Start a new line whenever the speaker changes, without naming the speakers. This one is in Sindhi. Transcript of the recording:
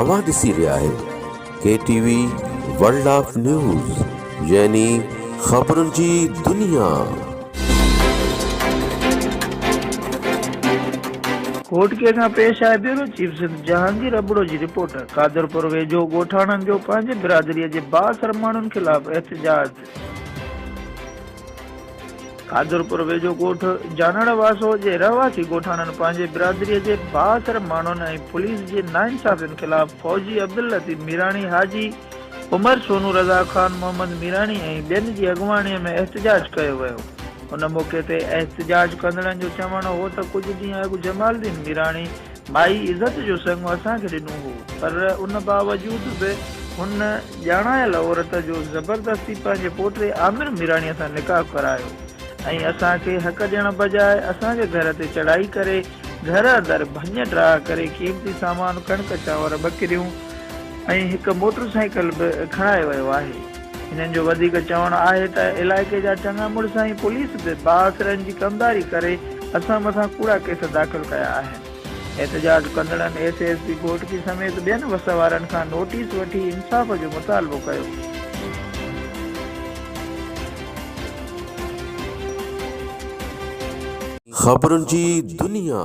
اوهان ڏسي رهيا آهيو K T V World of News يعني خبرن جي دنيا.
گهوٽڪي کان پيش آهي بيورو چيف سنڌ جهانگير ابڙو جي رپورٽ قادرپور ويجهو ڳوٺاڻن جو پنهنجي برادري جي بااثر ماڻهن خلاف احتجاج. قادرپور ويجهو ڳوٺ جانڻ واسو جي رهواسي ڳوٺاڻن پنهنجي برادري جي بااثر ماڻهن ۽ پوليس جي ناانصافين خلاف فوجي عبداللطيف ميراڻي، حاجي عمر سونو، رضا خان، محمد ميراڻي ۽ ٻين جي اڳواڻي ۾ احتجاج ڪيو ويو. ان موقعي تي احتجاج ڪندڙن جو چوڻ هو ته ڪجهه ڏينهن اڳ جمالدين ميراڻي، مائي عزت جو سڱ اسان کي ڏنو هو، پر ان باوجود به هن ڄاڻايل عورت جو زبردستي پنهنجي پوٽي عامر ميراڻيء سان نڪاح ڪرايو ۽ اسان کي حق ڏيڻ بجاء اسان جي گهر تي چڙهائي ڪري گهر اندر ڀڃ ڊاهه ڪري قيمتي سامان ڪڻڪ چانور ٻڪريون ۽ هڪ موٽر سائيڪل به کڻائي ويو آهي. هنن جو وڌيڪ چوڻ آهي ته علائقي جا چڱا مڙس ۽ پوليس به بااثرن جي ڪمداري ڪري اسان مٿان ڪوڙا ڪيس داخل ڪيا آهن. احتجاج ڪندڙن S A S P Ghotki سميت ٻين وس وارن کان نوٽيس وٺي انصاف جو مطالبو ڪيو.
خبرن جي دنيا.